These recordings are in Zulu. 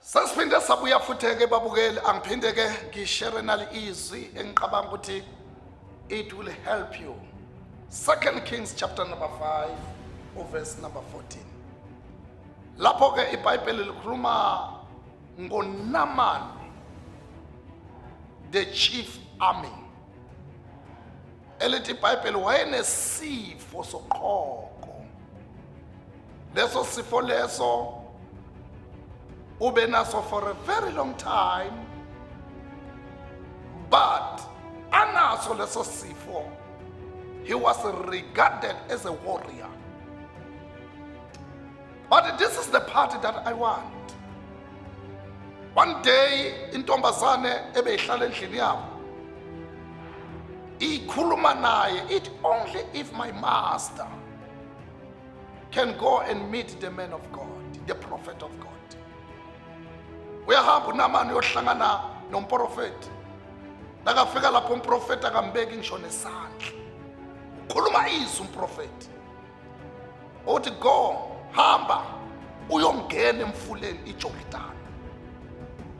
Sesiphinde sabuya futhi ke babukeli angiphinde ke ngishere nali izwi engiqabanga ukuthi it will help you. Second Kings chapter number 5 uverse number 14. Lapho ke iBhayibheli likhuluma ngoNaman the chief army elithi ibhayibheli wayenesifo soqhoko leso sifo leso ube naso for a very long time but anaso leso sifo he was regarded as a warrior But this is the party that I want. One day intombazane ebeyihlala endlini yabo ikhuluma naye it only if my master can go and meet the man of God, the prophet of God. Uyahamba uNamani uyohlangana nomprofeti. Nakafika lapho umprofeti akambeki ngisho nesandla. Ukhuluma izwi umprofeti. othi go hamba uyongena emfuleni ijordani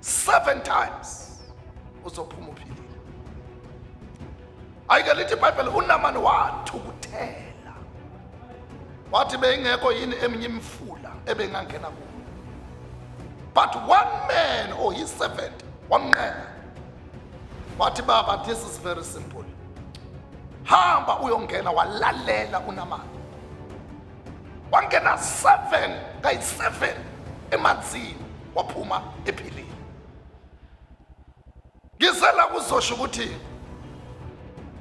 seven times uzophuma uphilile ayike lithi ibhayibheli unamani wathukuthela wathi beyingekho yini eminye imifula ebengangena kuyo but one man or his servant wamnqena wathi baba this is very simple hamba uyongena walalela unamani wangena seven kayi-seven emanzini waphuma ephilile ngizela kuzosho ukuthi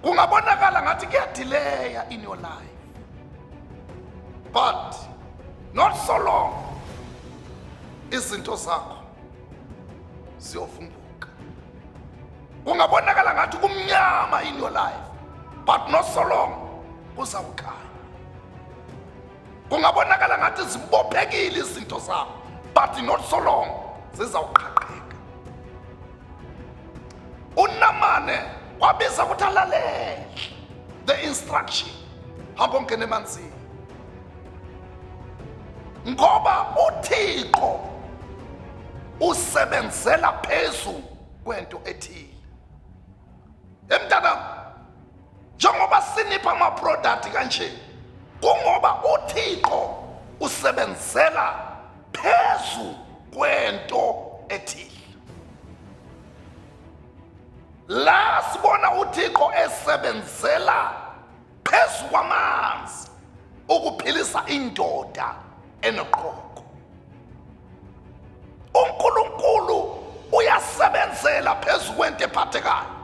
kungabonakala ngathi kuyadileya in your life but not so long izinto zakho ziyovumbuka kungabonakala ngathi kumnyama in your life but not so long kuzawukhanya kungabonakala ngathi zibophekile izinto zakho but not so long zizawuqhaqheka unamane wabiza ukuthi alalele the instruction hamba ongena emanzini ngoba uthixo usebenzela phezulu kwento ethile emntanam njengoba sinipha amaproduct kanje kungoba uthixo usebenzela phezu kwento ethile la sibona uthixo esebenzela phezu kwamanzi ukuphilisa indoda enoqoqo. UNkulunkulu uyasebenzela phezu kwento ephathekayo.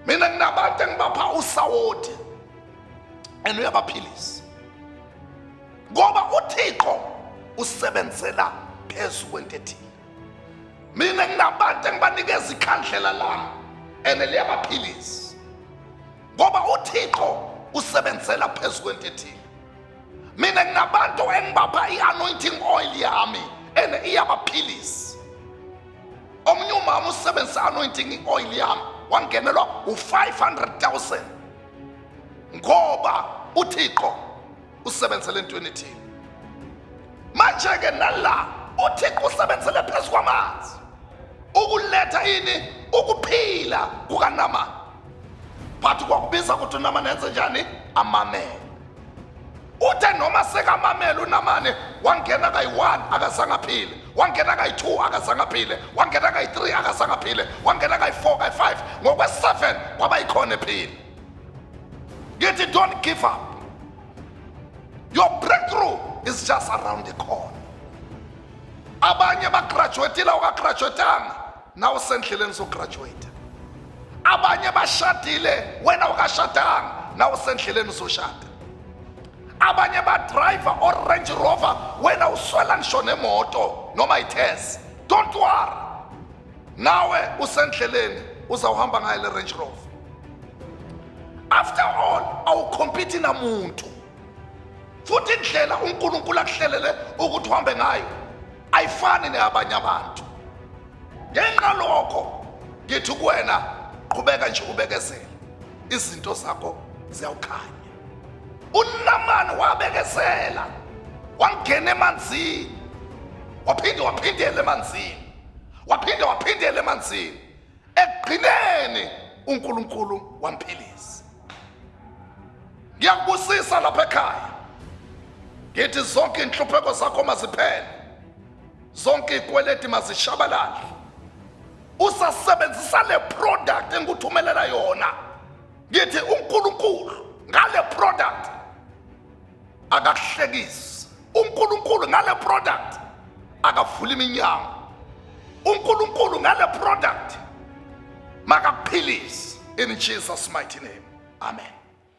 Mina nginabantu engibapha usawoti and uyabaphilisa. Ngoba uThixo usebenzela phezu kwento ethile. mina nginabantu engibanikeza ikhandlela lami and liyabaphilisa ngoba uthixo usebenzela phezu kwento ethile mina nginabantu engibapha i-anointing oil yami and iyabaphilisa omunye umama usebenzisa anointing i-oil yami wangenelwa u-500 000 ngoba uthixo usebenzele entweni ethile manje-ke nala uthixo usebenzele phezu kwamanzi ukuletha yini ukuphila kukanamani but kwakubiza ukuthi unamani enze njani amamele uthe noma sekamamele unamani wangena kayi-one akazange aphile wangena kayi-two akazange aphile wangena kayi-three akazange aphile wangena kayi-four kayi-five ngokwe-seven kwabayikhona ephile Get it, don't give up. Your breakthrough is just around the corner. Abanye bagraduatile ukagraduatanga nawe usendleleni sograduate. Abanye bashadile wena ukashadanga nawe usendleleni soshada. Abanye ba driver or Range Rover wena uswela ngisho nemoto noma ithes. Don't worry. nawe usendleleni uzawuhamba ngayo le range rover after all awukhompiti namuntu futhi indlela unkulunkulu akuhlelele ukuthi uhambe ngayo ayifani neyabanye abantu ngenxa lokho ngithi kuwena qhubeka nje ubekezele izinto zakho ziyawukhanya unamani wabekezela wangena emanzini waphinde waphindela emanzini waphinde waphindela emanzini ekugcineni uNkulunkulu wamphilisa ngiyakubusisa lapha ekhaya ngithi zonke inhlupheko zakho maziphele zonke ikweleti mazishabalale usasebenzisa le product engikuthumelela yona ngithi uNkulunkulu ngale product akahlekisi uNkulunkulu ngale product akavula iminyango uNkulunkulu ngale product makakuphilise in Jesus mighty name amen